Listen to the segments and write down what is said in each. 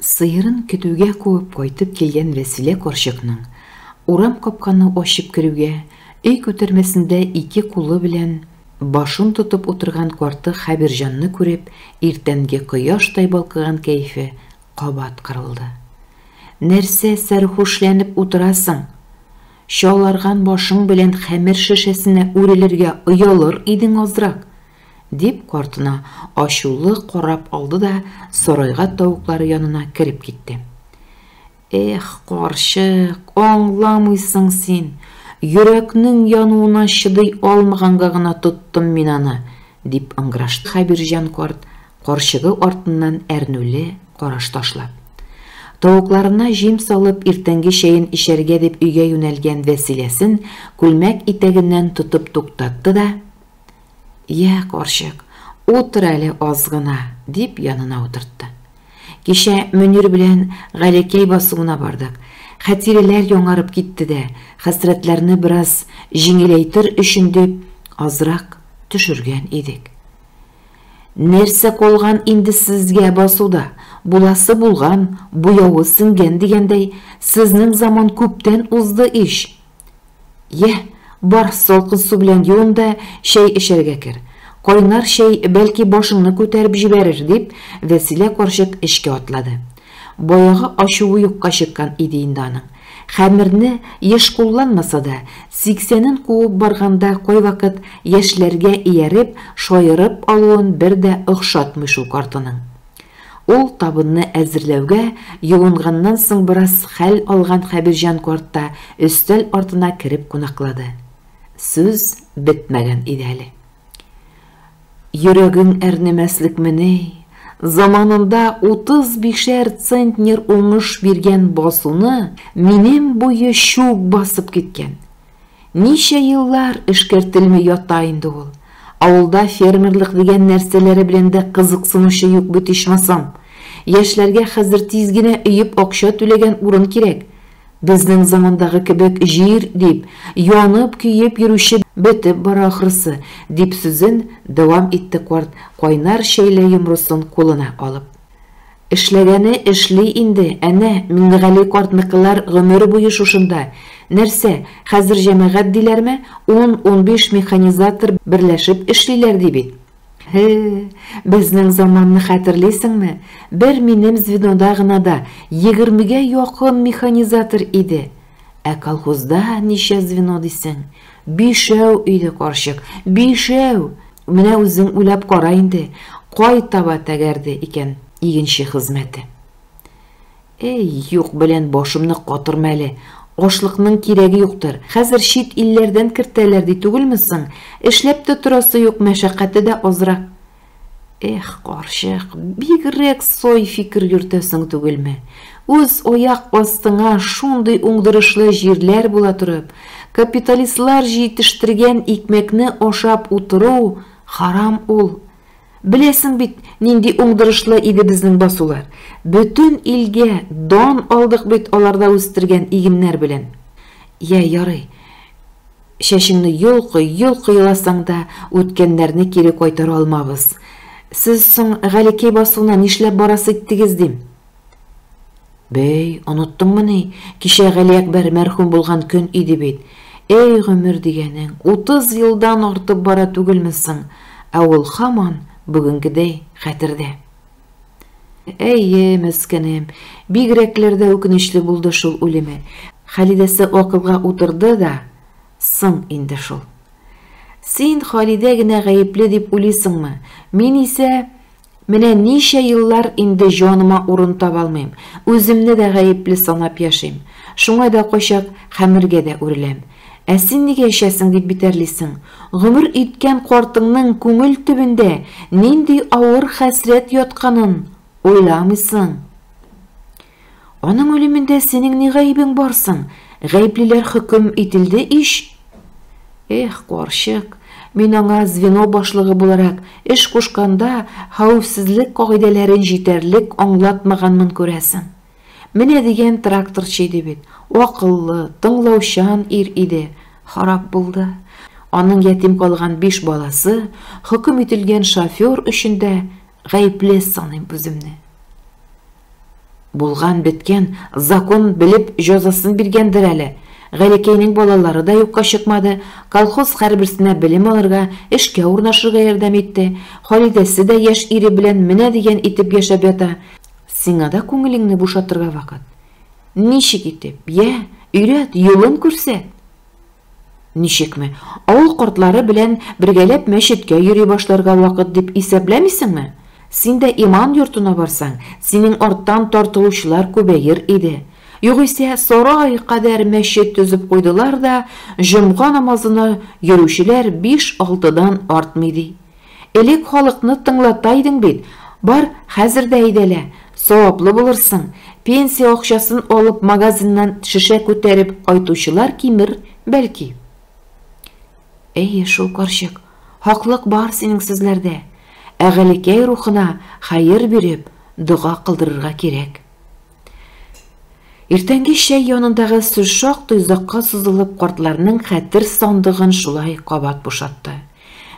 Сыерын көтүгә куып кайтып килгән Вәсилә карчыкның, урам капканы ачып керүгә, өй күтәрмәсендә ике кулы белән башын тотып утырган карты Хәбирҗанны күреп, иртәнге кояштай балкыган кәефе кабат кырылды. Нәрсә сәрхүшләнеп утырасың? Чаларган башың белән хәмер шешәсенә үрелергә оялыр идең азрак! Дип, картына ачулы карап алды да сарайга тавыклары янына кереп китте. Эх, карчык, аңламыйсың син. Йөрәкнең януына чыдый алмаганга гына тоттым мин аны, дип ыңгырашты Хәбирҗан карт, карчыгы артыннан әрнүле караш ташлап. Тавыкларына җим салып, иртәнге чәен эчәргә дип өйгә юнәлгән Вәсиләсен күлмәк итәгеннән тотып туктатты да, Йә, карчык, утыр әле аз гына, дип янына утыртты. Кичә Мөнир белән Галекәй басуына бардык. Хәтирәләр яңарып китте дә, хәсрәтләрне бераз җиңеләйтер өчен дип, азрак төшергән идек. Нәрсә калган инде сезгә басуда, буласы булган, буявы сеңгән дигәндәй, сезнең заман күптән узды ич, Йә, бар, салкын су белән юын да чәй эчәргә кер. Кайнар чәй, бәлки, башыңны күтәреп җибәрер, дип, Вәсилә карчык эчкә атлады. Баягы ачуы юкка чыккан иде инде аның. Хәмерне, еш кулланмаса да, сиксәнен куып барганда кайвакыт яшьләргә ияреп, шаерып алуын бер дә охшатмый шул картының. Ул табынны әзерләүгә юынганнан соң бераз хәл алган Хәбирҗан карт та өстәл артына кереп кунаклады. Сүз бетмәгән иде әле. Йөрәгең әрнемәслекмени, заманында утыз бишәр центнер уңыш биргән басуны минем буе чүп басып киткән. Ничә еллар эшкәртелми ята инде ул. Авылда фермерлык дигән нәрсәләре белән дә кызыксынучы юк бит ичмасам. Яшьләргә хәзер тиз генә өеп акча түләгән урын кирәк. Безнең замандагы кебек җир дип, янып-көеп йөрүче бетеп бара ахрысы, дип сүзен дәвам итте карт, кайнар чәйле йомросын кулына алып. Эшләгәне эшли инде, әнә, Миңнегали картныкылар гомер буе шушында. Нәрсә, хәзер җәмәгать диләрме, ун-унбиш механизатор берләшеп эшлиләр ди бит. Һе, безнең заманны хәтерлисеңме, бер минем звенода гына да егермегә якын механизатор иде. Ә колхозда ничә звено дисең? Бишәү иде карчык, бишәү! Менә үзең уйлап кара инде, кай таба тәгәрде икән игенче хезмәте. Әй, юк белән башымны катырма әле, ашлыкның кирәге юктыр. Хәзер чит илләрдән кертәләр ди түгелме соң? Эшләп тә торасы юк, мәшәкате дә азрак. Эх, карчык, бигрәк сай фикер йөртәсең түгелме? Үз аяк астыңа шундый уңдырышлы җирләр була торып, капиталистлар җитештергән икмәкне ашап утыру харам ул. Беләсең бит, нинди уңдырышлы иде безнең басулар. Бөтен илгә дан алдык бит аларда үстергән игеннәр белән. Йә, ярый, Чәчеңне йолкый, йолкый еласаң да, үткәннәрне кире кайтара алмабыз. Сез соң Галекәй басуына нишләп барасы иттегез, дим. Бәй, оныттыңмыни, кичә Галиәкбәр мәрхүм булган көн иде бит. Әй, гомер дигәнең, утыз елдан артып бара түгелме соң, ә ул һаман бүгенгедәй хәтердә. Әйе, мәскәнем, бигрәкләр дә үкенечле булды шул үлеме. Халидәсе акылга утырды да, соң инде шул. Син Халидә генә гаепле дип уйлыйсыңмы? Мин исә менә ничә еллар инде җаныма урын таба алмыйм. Үземне дә гаепле санап яшим. Шуңа да кайчак хәмергә дә үреләм. Ә син нигә эчәсең дип битәрлисең? Гомер иткән картыңның күңел төбендә нинди авыр хәсрәт ятканын уйламыйсың. Аның үлемендә синең ни гаебең бар соң? Гаеплеләр хөкем ителде ич. Эх, карчык, мин аңа звено башлыгы буларак эш кушканда хәвефсезлек кагыйдәләрен җитәрлек аңлатмаганмын күрәсең. Менә дигән тракторчы иде бит. Акыллы, тыңлаучан ир иде. Харап булды. Аның ятим калган биш баласы, хөкем ителгән шофер өчен дә гаепле саныйм үземне. Булган беткән закон белеп җәзасын биргәндер әле. Галикәйнең балалары да юкка чыкмады, колхоз хәрберсенә белем алырга, эшкә урнашырга ярдәм итте. Халидәсе дә яшь ире белән менә дигән итеп яшәп ята. Сиңа да күңелеңне бушатырга вакыт. Ничек итеп? Йә, өйрәт, юлын күрсәт. Ничекме? Авыл кортлары белән бергәләп мәчеткә йөри башларга вакыт дип исәпләмисеңме? Син дә иман йортына барсаң, синең арттан тартылучылар күбәер иде. Югыйсә, сарай кадәр мәчет төзеп куйдылар да, җомга намазына йөрүчеләр биш-алтыдан артмый ди. Элек халыкны тыңлата идең бит, бар, хәзер дә әйдәлә, саваплы булырсың, пенсия акчасын алып магазиннан шешә күтәреп кайтучылар кимер, бәлки. Әйе, шул карчык, хаклык бар синең сүзләрдә. Ә Галикәй рухына хәер биреп, дога кылдырырга кирәк. Иртәнге чәй янындагы сүз шактый озакка сузылып, картларның хәтер сандыгын шулай кабат бушатты.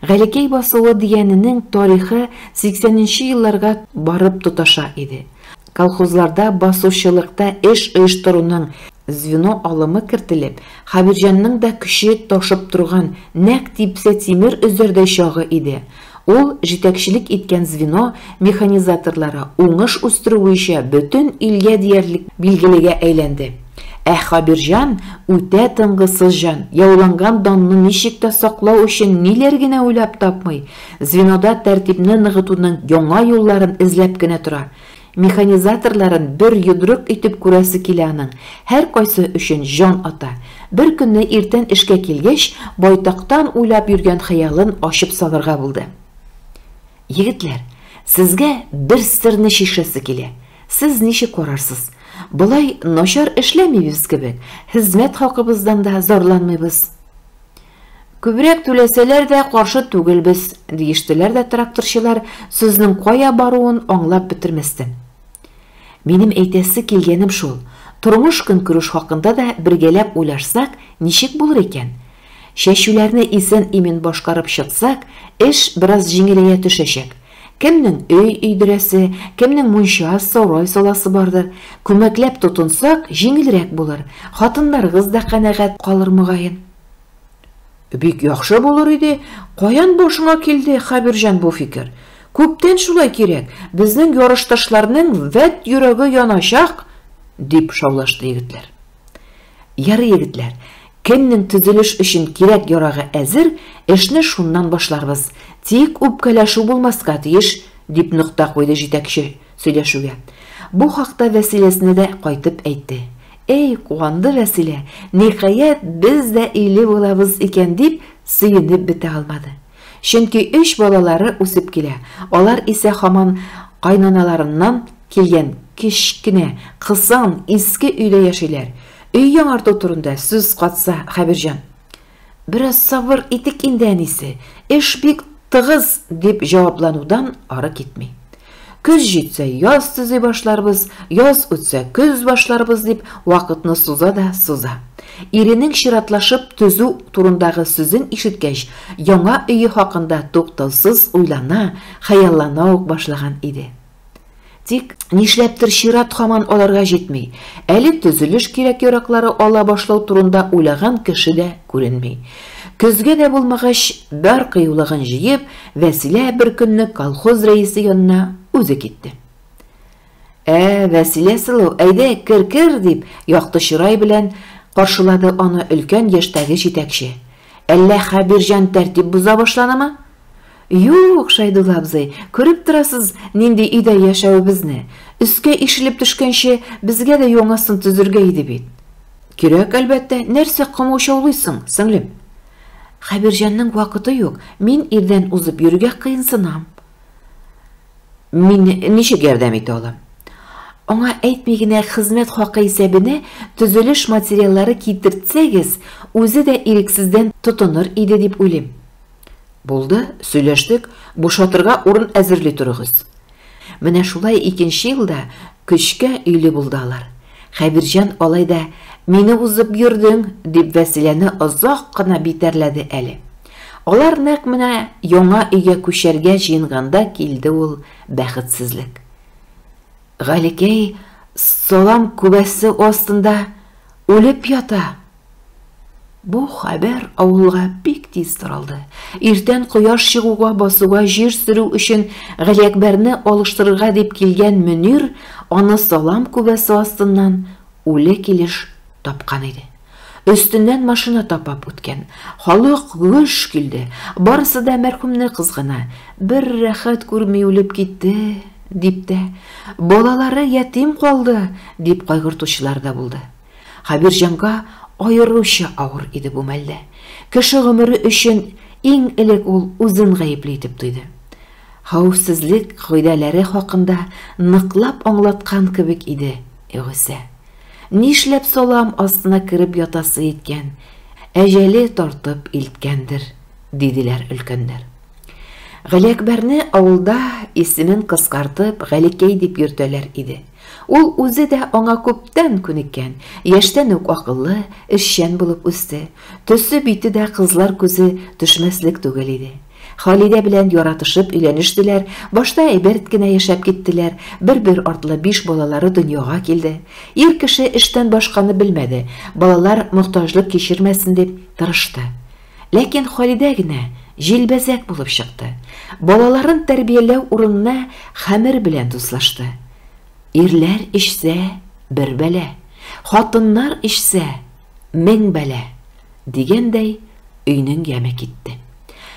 Галикәй басуы дигәненең тарихы 80 нче елларга барып тоташа иде. Колхозларда басучылыкта эш оештыруның звено алымы кертелеп, Хәбирҗанның да көче ташып торган, нәкъ типсә тимер өзәрдәй чагы иде. Ул җитәкчелек иткән звено механизаторлары уңыш үстерү буенча бөтен илгә диярлек билгелегә әйләнде. Ә Хабирҗан, үтә тынгысыз җан, яуланган данны ничек тә саклау өчен ниләр генә уйлап тапмый, звенода тәртипне ныгытуның яңа юлларын эзләп кенә тора. Механизаторларын бер йодрык итеп күрәсе килә аның, һәркайсы өчен җан ата. Беркөнне иртән эшкә килгәч, байтактан уйлап йөргән хыялын ачып салырга булды. Егетләр, сезгә бер серне чишәсе килә. Сез ничек карарсыз? Болай начар эшләмибез кебек, хезмәт хакыбыздан да зарланмыйбыз. Күбрәк түләсәләр дә, каршы түгелбез, диештеләр дә тракторчылар, сүзнең кая баруын аңлап бетермәстән. Минем әйтәсе килгәнем шул, тормыш-көнкүреш хакында да бергәләп уйлашсак, ничек булыр икән? Чәчүләрне исән-имин башкарып чыксак, эш бераз җиңеләя төшәчәк. Кемнең өй өйдерәсе, кемнең мунча, сарай саласы бардыр. Күмәкләп тотынсак, җиңелрәк булыр, хатыннарыгыз да канәгать калыр, мөгаен. Бик яхшы булыр иде. Каян башыңа килде, Хәбирҗан, бу фикер? Күптән шулай кирәк. Безнең ярышташларның вәт йөрәге яначак, дип шаулашты егетләр. Яры егетләр, кемнең төзелеш өчен кирәк ярагы әзер, эшне шуннан башларбыз. Тик үпкәләшү булмаска тиеш, дип нокта куйды җитәкче. Сөйләшүгә. Бу хакта Вәсиләсенә дә кайтып әйтте. Әй, куанды Вәсилә, ниһаять, без дә өйле булабыз икән, дип сөенеп бетә алмады. Чөнки өч балалары үсеп килә, алар исә һаман кайнаналарыннан килгән кечкенә, кысан, иске өйдә яшиләр. Өй яңарту турында сүз катса Хәбирҗан. Бераз сабыр итик инде, әнисе, эш бик тыгыз, дип җавапланудан ары китми. Көз җитсә, яз төзи башларбыз, яз үтсә, көз башларбыз, дип вакытны суза да суза. Иренең чиратлашып төзү турындагы сүзен ишеткәч, яңа өе хакында туктаусыз уйлана, хыяллана ук башлаган иде. Тик, нишләптер, чират һаман аларга җитми. Әле төзелеш кирәк-яраклары ала башлау турында уйлаган кеше дә күренми. Көзгә дә булмагач, бар кыюлыгын җыеп, Вәсилә бер көнне колхоз рәисе янына үзе китте. Ә, Вәсилә сылу, әйдә, кер-кер, дип, якты чырай белән каршылады аны өлкән яшьтәге җитәкче. Әллә Хәбирҗан тәртип боза башланымы? Юк, Шәйдулла абзый, күреп торасыз, нинди өйдә яшәвебезне. Өскә ишелеп төшкәнче, безгә дә яңасын төзергә иде бит. Кирәк, әлбәттә, нәрсә комаучаулыйсың, сеңлем? Хәбирҗанның вакыты юк, мин ирдән узып йөрергә кыенсынам. Мин ничек ярдәм итә алам? Аңа әйтми генә хезмәт хакы исәбенә төзелеш материаллары китертсәгез, үзе дә ирексездән тотыныр иде дип уйлыйм. Булды, сөйләштек, бушатырга урын әзерли торыгыз. Менә шулай икенче елда көчкә өйле булды алар. Хәбирҗан алай да Мине узып йөрдең, дип Вәсиләне озак кына битәрләде әле. Алар нәкъ менә яңа өйгә күчәргә җыенганда килде ул бәхетсезлек. Галикәй салам күбәсе астында үлеп ята, Бу хәбәр авылга бик тиз таралды. Иртән кояш чыгуга басуга җир сөрү өчен Галиәкбәрне алыштырырга дип килгән Мөнир аны салам күбәсе астыннан үле килеш тапкан иде. Өстеннән машина тапап үткән. Халык гөж килде. Барысы да мәрхүмне кызгана. Бер рәхәт күрми үлеп китте, дип тә, балалары ятим калды, дип кайгыртучылар да булды. Хәбирҗанга аеруча авыр иде бу мәлдә. Кеше гомере өчен иң элек ул үзен гаепле итеп тойды. Хәвефсезлек кагыйдәләре хакында ныклап аңлаткан кебек иде Гөсә. Нишләп салам астына кереп ятасы иткән, әҗәле тартып илткәндер, диделәр өлкәннәр. Галиәкбәрне авылда исемен кыскартып Галикәй дип йөртәләр иде. Ул үзе дә аңа күптән күнеккән, яшьтән үк акыллы, эшчән булып үсте. Төсе-бите дә кызлар күзе төшмәслек түгел иде. Халидә белән яратышып өйләнештеләр, башта әйберт кенә яшәп киттеләр, бер-бер артлы биш балалары дөньяга килде. Ир кеше эштән башканы белмәде, балалар мохтаҗлык кичермәсен дип тырышты. Ләкин Халидә генә җилбәзәк булып чыкты, балаларын тәрбияләү урынына хәмер белән дуслашты. Ирләр эчсә, бер бәла, хатыннар эчсә, мең бәла, дигәндәй, өйнең яме китте.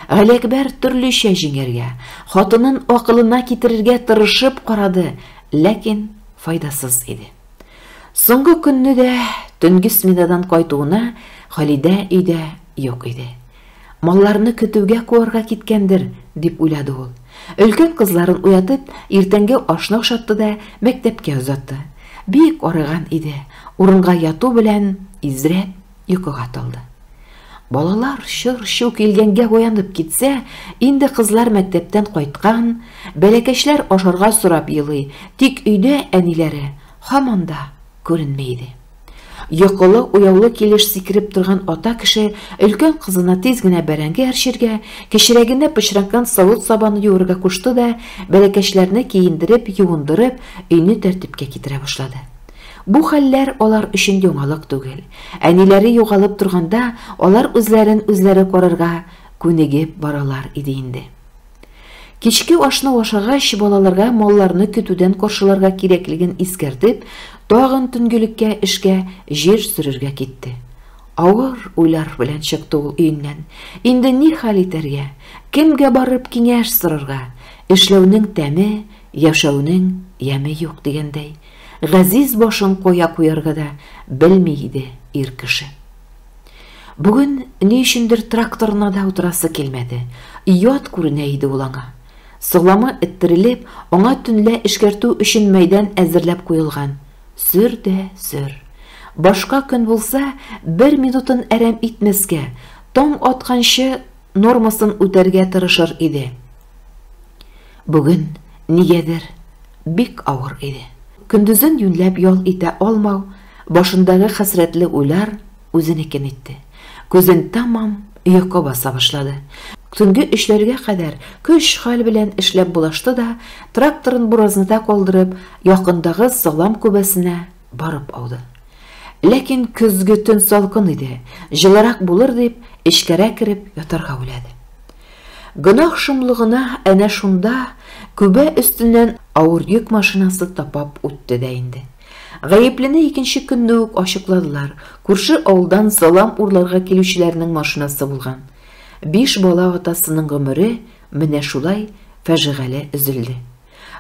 Галиәкбәр төрлечә җиңәргә, хатынын акылына китерергә тырышып карады, ләкин файдасыз иде. Соңгы көнне дә төнге сменадан кайтуына Халидә өйдә юк иде. Малларны көтүгә куарга киткәндер, дип уйлады ул. Өлкән кызларын уятып, иртәнге ашны ашатты да мәктәпкә озатты. Бик арыган иде. Урынга яту белән изрәп Йокыга талды. Балалар чыр-чу килгәнгә уянып китсә, инде кызлар мәктәптән кайткан, бәләкәчләр ашарга сорап елый, тик өйдә әниләре һаман да күренми иде. Йокылы, уяулы килеш сикереп торган ата кеше өлкән кызына тиз генә бәрәңге әрчергә, кечерәгенә пычранган савыт сабаны юырга кушты да, бәләкәчләрне киендереп, юындырып, өйне тәртипкә китерә башлады. Бу хәлләр алар өчен яңалык түгел. Әниләре югалып торганда, алар үзләрен үзләре карарга күнегеп баралар иде инде. Кичке ашны ашагач, балаларга малларны көтүдән каршыларга кирәклеген искәртеп, тагын төнгелеккә эшкә җир сөрергә китте. Авыр уйлар белән чыкты ул өеннән. Инде ни хәл итәргә? Кемгә барып киңәш сорарга? Эшләүнең тәме, яшәүнең яме юк дигәндәй. Газиз башын кая куярга да белми иде ир кеше. Бүген ни өчендер тракторына да утырасы килмәде. Ят күренә иде ул аңа. Солама эттерелеп, аңа төнлә эшкәртү өчен мәйдан әзерләп куелган. Сөр дә сөр. Башка көн булса, бер минутын әрәм итмәскә, таң атканчы нормасын үтәргә тырышыр иде. Бүген, нигәдер, бик авыр иде. Көндезен юньләп ял итә алмау, башындагы хәсрәтле уйлар үзенекен итте. Күзен тәмам йокы баса башлады. Төнге өчләргә кадәр көч-хәл белән эшләп булашты да, тракторын буразныда калдырып, якындагы салам күбәсенә Барып ауды. Ләкин көзге төн салкын иде, җылырак булыр дип, эчкәрәк кереп ятарга уйлады. Гөнаһ шомлыгына әнә шунда күбә өстеннән авыр йөк машинасы тапап үтте дә инде. Гаеплене икенче көнне үк ачыкладылар. Күрше авылдан салам урларга килүчеләрнең машинасы булган. Биш бала атасының гомере менә шулай фәжигале өзелде.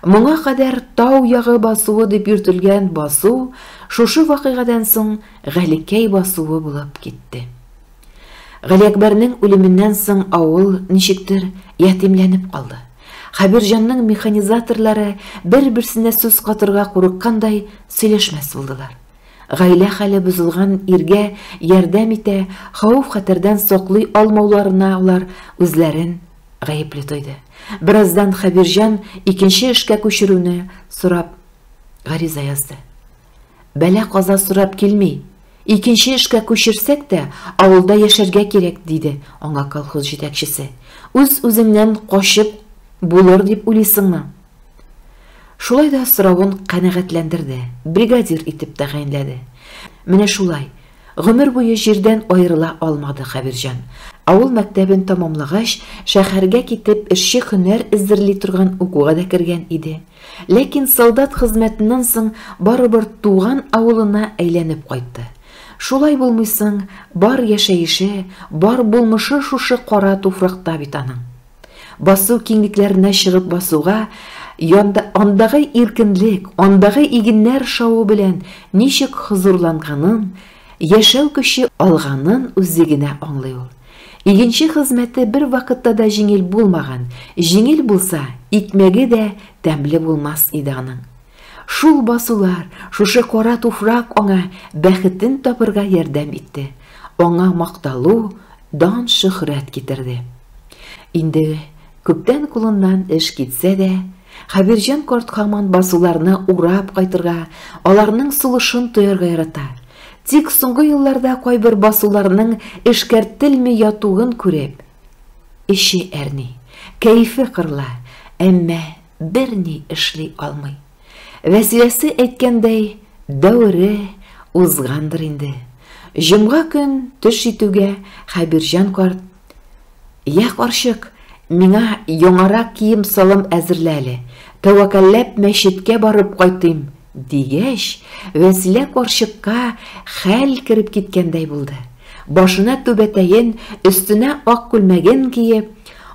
Моңа кадәр Тау ягы басуы дип йөртелгән басу шушы вакыйгадан соң Галикәй басуы булып китте. Галиәкбәрнең үлеменнән соң авыл, ничектер, ятимләнеп калды. Хәбирҗанның механизаторлары бер-берсенә сүз катырга курыккандай сөйләшмәс булдылар. Гаилә хәле бозылган иргә ярдәм итә, хавыф-хәтәрдән саклый алмауларына алар үзләрен Гаепле тойды. Бераздан Хәбирҗан икенче эшкә күчерүне сорап гариза язды. Бәла каза сорап килми. Икенче эшкә күчерсәк тә, авылда яшәргә кирәк, диде аңа колхоз җитәкчесе. Үз-үзеңнән качып булыр дип уйлыйсыңмы? Шулай да соравын канәгатьләндерде, бригадир итеп тәгаенләде. Менә шулай, Гомер буе җирдән аерыла алмады Хәбирҗан. Авыл мәктәбен тәмамлагач, шәһәргә китеп, эшче һөнәр эзерли торган укуга да кергән иде. Ләкин солдат хезмәтеннән соң барыбер туган авылына әйләнеп кайтты. Шулай булмый соң, бар яшәеше, бар булмышы шушы кара туфракта бит аның. Басу киңлекләренә чыгып басуга, янда, андагы иркенлек, андагы игеннәр шавы белән ничек хозурланганын, яшәү көче алганын үзе генә аңлый ул. Игенче хезмәте бер вакытта да җиңел булмаган, җиңел булса, икмәге дә тәмле булмас иде аның. Шул басулар, шушы кара туфрак аңа бәхетен табырга ярдәм итте, аңа макталу, дан-шөһрәт китерде. Инде күптән кулыннан эш китсә дә, Хәбирҗан карт һаман басуларны урап кайтырга, аларның сулышын тоярга ярата. Тик соңгы елларда кайбер басуларның эшкәртелми ятуын күреп, эче әрни, кәефе кырыла, әмма Берни эшли алмый. Вәсиләсе әйткәндәй, дәвере узгандыр инде. Җомга көн төш җитүгә Хәбирҗан карт, Я, карчык, миңа яңарак кием-салым әзерлә әле, тәвәкәлләп мәчеткә барып кайтыйм, Дигәч, Вәсилә карчыкка хәл кереп киткәндәй булды. Башына түбәтәен, өстенә ак күлмәген киеп,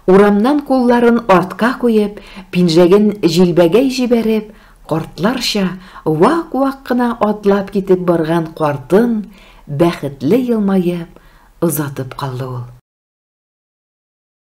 урамнан кулларын артка куеп, пинжәген җилбәгәй җибәреп, картларча вак-вак кына атлап китеп барган картын бәхетле елмаеп озатып калды ул.